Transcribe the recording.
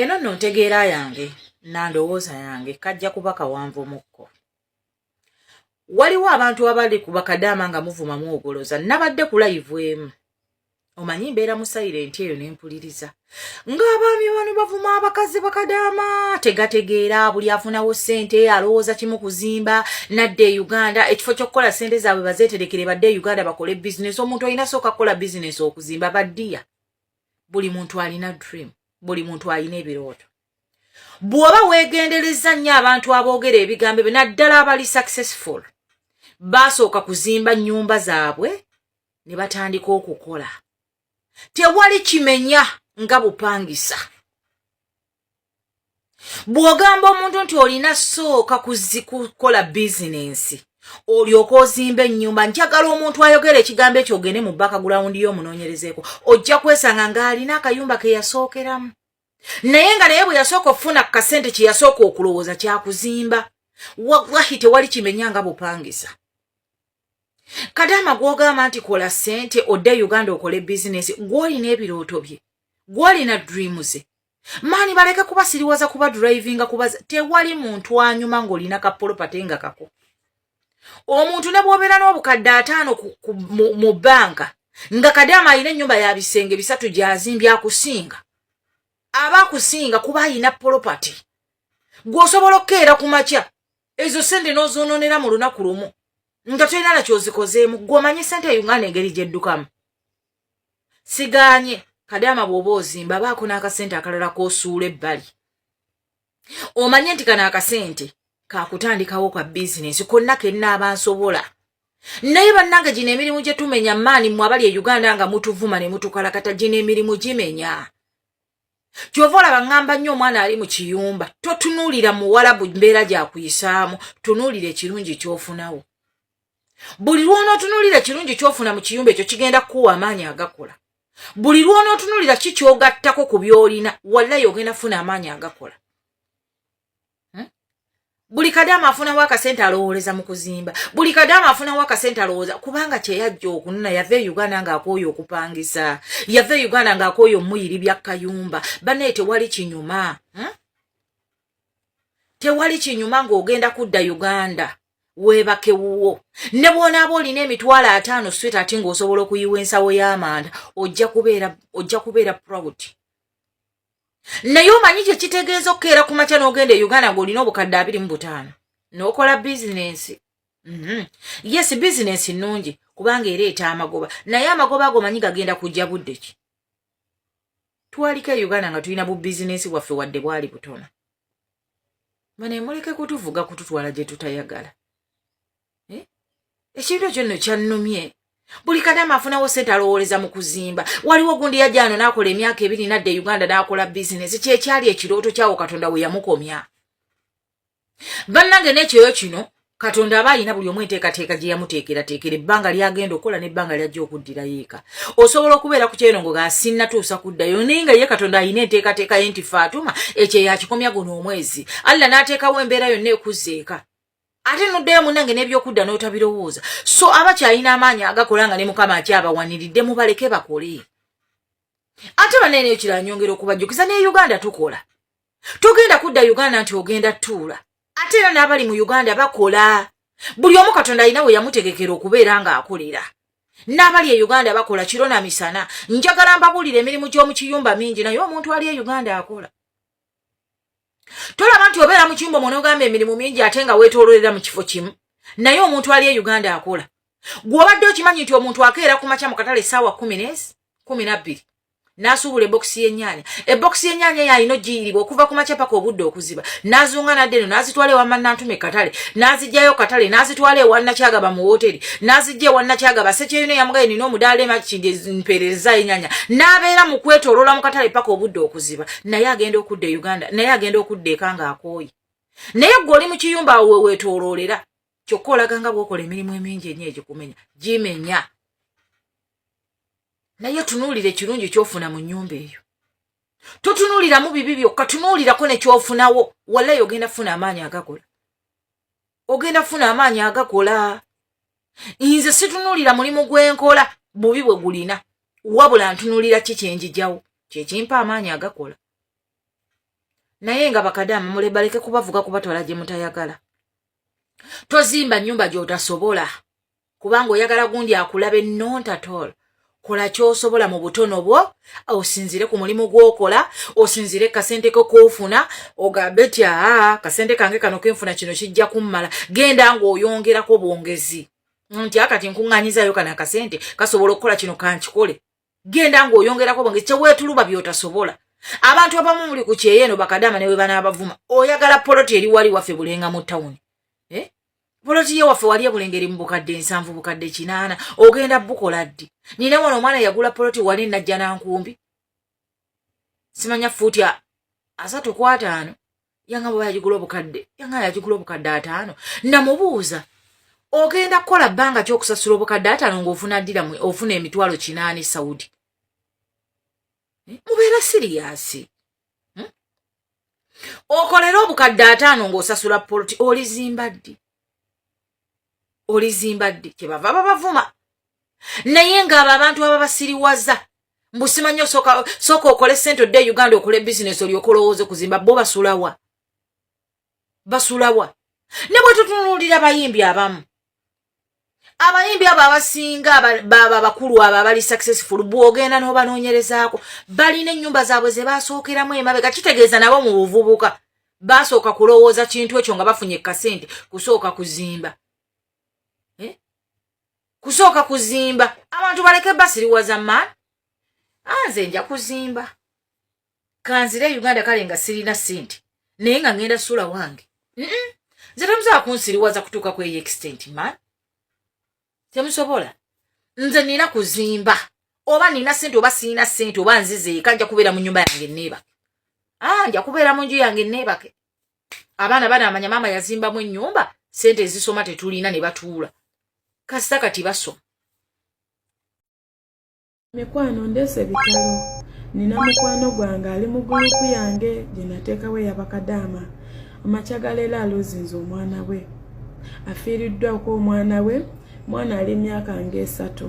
eno no ntegeera yange nandowooza yange kajja kuba kawanvumukko waliwo abantu abali ku bakadaama nga muvumamu ogoloza nabadde kulayivu emu omanyi mbeera mu sayirenti eyo nempuliriza ng'abaami bano bavuma abakazi bakadaama tegategeera buli afunawo ssente alowooza kimu kuzimba nadde e uganda ekifo ky'okukola ssente zaabwe bazeeterekere badde e uganda bakole bizinesi omuntu olina sooka kukola bizinesi okuzimba baddiya buli muntu alina dream buli muntu alina ebirooto bw'oba weegenderezza nnyo abantu aboogera ebigambo ebyo naddala abali successful baasooka kuzimba nnyumba zaabwe ne batandika okukola tewali kimenya nga bupangisa bw'ogamba omuntu nti olina sooka kukola bizinensi olyoka ozimba ennyumba njagala omuntu ayogera ekigambo ekyo ogende mu bakagulawundi yo omunoonyerezeeko ojja kwesanga ng'alina akayumba ke yasookeramu naye nga naye bwe yasooka okufuna ku kasente kye yasooka okulowooza kyakuzimba wahi tewali kimenya nga bupangisa kadaama gwogamba nti kola sente odde uganda okole bizinesi gwolina ebirooto bye gwolina dreams maani baleke kuba siriwaza kuba drivinga kuba tewali muntu anyuma ng'olina kapolopate nga kako omuntu ne bwobeera n'obukadde ataano mu banka nga kadaama alina ennyumba ya bisenge bisatu gyazimbye akusinga aba akusinga kuba alina polopate gweosobola okukeera ku makya ezo sente n'ozoononera mu lunaku lumu nga tolina na kyozikozeemu gwe omanyi sente e uganda engeri gyeddukamu siganye kadaama bw'oba ozimba baako n'akasente akalala k'osuula ebbali omanye nti kano akasente kakutandikawo ka bizinensi konna kennaaba nsobola naye bannange gino emirimu gye tumenya maani mwe abali e uganda nga mutuvuma ne mutukalakata gino emirimu gimenya kyova olaba ŋŋamba nnyo omwana ali mu kiyumba totunuulira muwalabu mbeera gyakuyisaamu tunuulira ekirungi kyofunawo buli lwonootunuulira ekirungi kyofuna mu kiyumba ekyo kigenda kukuwa amaanyi agakola buli lwonootunuulira ki kyogattako ku byolina wallayi ogenda kufuna amaanyi agakola hmm? buli kadaama afunawo akasente alowooleza mu kuzimba buli kadaama afunawo akasente alowooza kubanga kyeyajja okunona yava e uganda ng'akooyo okupangisa yava e uganda ng'akooyo omuyiri bya kayumba banaye tewali kinyuma hmm? tewali kinyuma ng'ogenda kudda uganda weebake wuwo ne bwonaaba olina emitwalo ataano swit ati ng'osobola okuyiwa ensawo y'amanda ojja kubeera ojja kubeera proud naye omanyi kye kitegeeza okukeera ku makya n'ogenda e uganda ng'olina obukadde abiri mu butaano n'okola bizinensi mhm. yes bizinensi nnungi kubanga ereeta amagoba naye amagoba ago manyi gagenda kujja budde ki twaliko e uganda nga tulina bu bizinensi bwaffe wadde bwali butono mane muleke kutuvuga kututwala gye tutayagala eh? ekintu ekyo nno kyannumye buli kadama afunawo sente alowooleza mu kuzimba waliwo gundi yajja ano n'akola emyaka ebiri nadda e uganda n'akola bizinesi kyekyali ekirooto kyawo katonda we yamukomya bannange n'ekyoyo kino katonda aba alina buli omu enteekateeka gye yamuteekerateekera ebbanga lyagenda okukola n'ebbanga lyajja okuddirayo eka osobola okubeera ku kyerongo nga sinnatuusa kuddayo naye nga ye katonda alina enteekateeka ye nti faatuma ekyo yakikomya guno omwezi allah n'ateekawo embeera yonna ekuzza eka ate noddayo munange n'ebyokudda n'otabirowooza so abakyalina amaanyi agakola nga ne mukama akyabawaniridde mubaleke bakole ate banene ekira nyongera okubajjukiza ne uganda tukola togenda kudda uganda nti ogenda tuula ate era n'abali mu uganda bakola buli omu katonda alina we yamutegekera okubeera ng'akolera n'abali e uganda bakola kiro na misana njagala mbabuulira emirimu gy'omu kiyumba mingi naye omuntu ali e uganda akola tolaba nti obeera mu kyumba omwona ogamba emirimu mingi ate nga weetoololera mu kifo kimu naye omuntu ali e uganda akola gw'obadde okimanyi nti omuntu akeera ku makya mu katale essaawa kumi nes kumi nabbiri n'asuubula ebokisi y'ennyanya ebokisi y'ennyanya eyo alina ogiyiribwa okuva ku makya paka obudde okuziba n'azunga nadde eno n'azitwala ewa mannantuma ekatale n'azijjayo katale n'azitwala ewa nakyagaba mu wooteri n'azijja ewa nakyagaba sekyeyino yamugaye nina omudaala emakindi mpeerereza ennyanya n'abeera mu kwetoolola mu katale paka obudde okuziba naye agenda okudda e uganda naye agenda okudda eka nga akooye naye gwe oli mu kiyumba awo weweetooloolera kyokka olaga nga bwokola emirimu emingi enyo egikumenya gimenya naye tunuulira ekirungi kyofuna mu nyumba eyo totunuuliramu bibi byokka tunuulirako nekyofunawo walayi ogenda funa amaanyi agakola ogenda kufuna amaanyi agakola nze situnulira mulimu gwenkola bubi bwe gulina wabula ntunulira ki kyenjijawo kyekimpa amaanyi agakola naye nga bakadaama mulebaleke kubavuga kubatwala gye mutayagala tozimba nyumba gyotasobola kubanga oyagala gundi akulabe not at all kola kyosobola mu butono bwo osinzire ku mulimu gwokola osinzire kasente ko kofuna ogambe ti aa kasente kange kano kenfuna kino kijja kummala genda ng'oyongerako bwongezi nti akati nkuŋŋanyizayo kana akasente kasobola okukola kino kankikole genda ng'oyongerako bwonge teweetuluba by'otasobola abantu abamu muli ku kyeyo eno bakadaama ne bwe banaabavuma oyagala poloti eri wali waffe bulenga mu tawuni eh? poloti ye waffe wali ebulenga eri mu bukadde ensanvu bukadde kinaana ogenda bukola ddi nina wano omwana yagula poloti wali najja nankumbi simanya fuuti asatu kwataano yanga bwe yagigula obukadde yanga yagigula obukadde ataano namubuuza ogenda kukola bbanga ki okusasula obukadde ataano ng'ofuna ddira ofuna emitwalo kinaani saudi eh, mubeera siriyasi hmm? okolere obukadde ataano ng'osasula poloti olizimba ddi olizimba ddi kyebava babavuma naye ngaabo abantu ababasiriwaza mbusimanyi osooka okole sente odde e uganda okole bizinesi olyoka olowooza okuzimba bo basulawa basulawa ne bwe tutunuulira bayimbi abamu abayimbi abo abasinga baba bakulu abo abali successful bwogenda n'obanoonyerezaako balina ennyumba zaabwe ze baasookeramu emabega kitegeeza nabo mu buvubuka basooka kulowooza kintu ekyo nga bafunye kasente kusooka kuzimba eh? kusooka kuzimba abantu baleke basiriwaza man anze ah, nja kuzimba kanzire e uganda kale nga sirina sente naye nga ngenda suula wange nze temusobola kunsiriwaza kutuuka ku eyo extent man temusobola nze nina kuzimba oba nina sente oba siina sente oba nzizeeka nja kubeera mu nyumba yange neebake ah, nja kubeera mu nju yange neebake abaana banaamanya maama yazimbamu enyumba sente ezisoma tetulina ne batuula kasita kati basoma mikwano ndeese bitalo nina mukwano gwange ali mu gulupu yange gye nateekawo eyabakadaama amakya galeero aluzinze omwana we afiiriddwako omwana we mwana ali emyaka ng'esatu